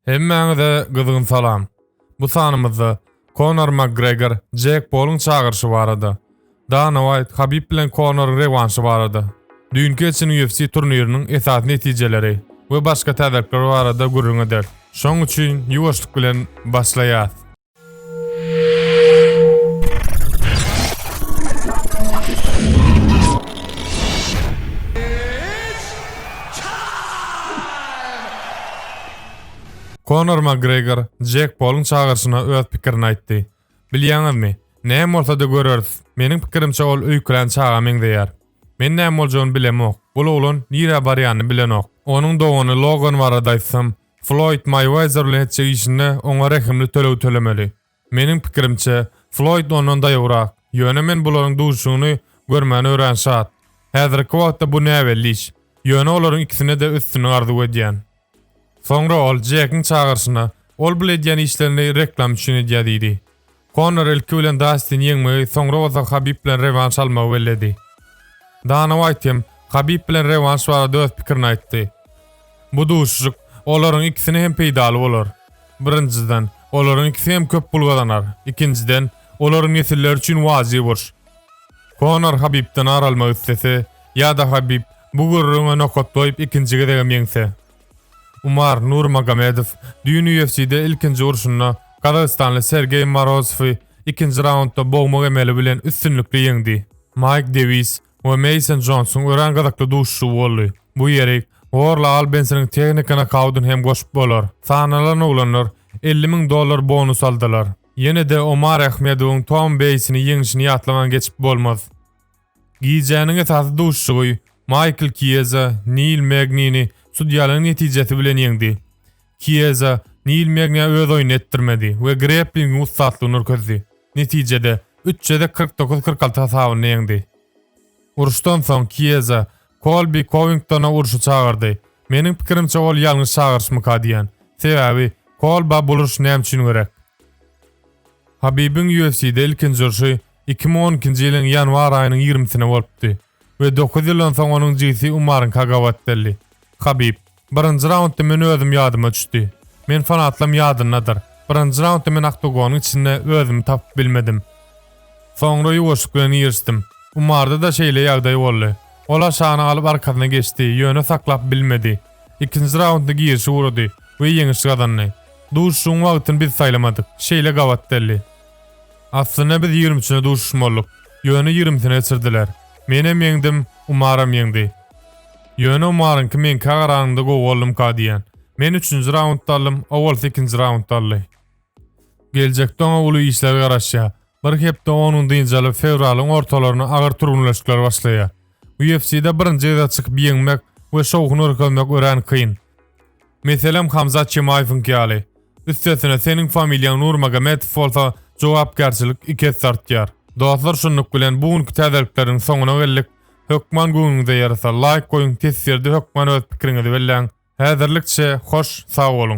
Hemmäňize gyzgyn salam. Bu sanymyzda Konor Makgregor, Jek Poluň çagyryşy barada, Dana Waýt, Habib bilen Konoryň rewanşy barada, düýnki geçen UFC turniriniň esasy netijeleri we başga täzelikler barada gürrüň ederis. Şoň üçin ýuwaşlyk bilen başlaýas. Konor Makgregor Jack Polun çagyryşyna öz pikirini aýtdy. Bilýäňizmi, näme bolsa-da göreris. Meniň pikirimçe ol öýkelen çaga meňzeýär. Men näme boljagyny bilemok. Bul oglan nirä barýanyny bilenok. Onuň dogany Logan barada aýtsam, Floýd Maýuezer bilen etjek işinde oňa rehimli töleg tölemeli. Meniň pikirimçe, Floýd ondan daýawrak, ýöne men bularyň duşuşygyny görmäne örän şat. Häzirki wagtda bu näbelli iş, ýöne olaryň ikisine-de üstünlik arzuw edýän. Soňra ol Jekiň çagyryşyna, Ol bul edýän işlerini reklam üçin edýär diýdi. Konor ilki bilen Dastini ýeňmegi, soňra bolsa Habib bilen rewanş almagy belledi. Dana Waýt hem Habib bilen rewanş barada öz pikirini aýtdy. Bu duşuşyk olaryň ikisine hem peýdaly bolar. Birinjiden, olaryň ikisi hem köp pul gazanar, ikinjiden, olaryň nesilleri üçin wajyp uruş. Konor Habibden ar almak islese, ýa-da Habib bu gürrüňe nokat goýup ikinji gezegem ýeňse, Umar Nurmagomedow düýn UFC-de ilkinji urşunda gazagystanly Sergeý Morozowy ikinji raundda bogmak emeli bilen üstünlikli ýeňdi. Maýk Dewis we Meýson Jonsuň örän gyzykly duşuşygy boldy. Bu ýeri Gorl Albensiniň tehniki nokaudyny hem goşup bolar. Sanalan oglanlar elli müň dollar bonus aldylar. Ýene-de Omar Ahmedowyň Tom Beýsini ýeňişini ýatlaman geçip bolmaz. Gijäniň esasy duşuşygy Maýkl Kieza Nil Megnini sudýalygyň netijesi bilen ýeňdi. Kieza Nil Megniä öz oýnuny etdirmedi we greplingiň ussatlygyny nurkezdi. Netijede, üç jezek kyrk dokuz kyrk alty hasabynda ýeňdi. Uruşdan soň Kieza Kolbi Kowingtona uruşa çagyrdy. Meniň pikirimçe ol ýalňyş çagyryşmyka diýýän. Sebäbi, Kolba bul uruş näme üçin gerek? Habibiň UFC-de ilkinji urşy Iki müň on ikinji ýylyň ýanwar aýynyň ýigrimisine bolupdy we dokuz ýyldan soň onuň jigisi Umaryňka gabat geldi. Habib, Birinji raundda men özüm ýadyma düşdi. Men fanatlam ýadyndadyr. Birinji raundda men oktogonyň içinde özümi tapyp bilmedim. Soňra ýuwaşlyk bilen girişdim. Umarda-da şeýle ýagdaý boldy. Ol aşagyny alyp arkasyna geçdi, ýöne saklap bilmedi. Ikinji raundda girişi gurady we ýeňiş gazandy. Duşuşygyň wagtyny biz saýlamadyk. Şeýle gabat geldi. Aslynda biz ýigrimçine duşuşmalydyk. Ýöne ýigrimsini geçirdiler. Menem ýeňdim, Umaram ýeňdi. Ýöne Umaryňky meňkä garanyňda gowy boldumyka diýýän. Men üçünji raundda aldym, owalsy ikinji raundda aldy. Geljekde oňa uly işler garaşýar. Bir hepde onuň dynç alyp, fewralyň ortalarynda agyr türgenleşikler başlaýar. UFC-de birinji gezek çykyp ýeňmek we şowhun görkezmek örän kyn. Meselem Hamzat Çemaýewiňki ýaly. Üstesine seniň familiýaň Nurmagomedow bolsa jogapkärçilik iki esse artýar. Dostlar şunluk bilen bu günki täzelikleriň soňuna geldik. Hökman göwnüňize ýarasa laýk goýuň teswirde hökman öz pikiriňizi belläň. Häzirlikçe hoş sag boluň.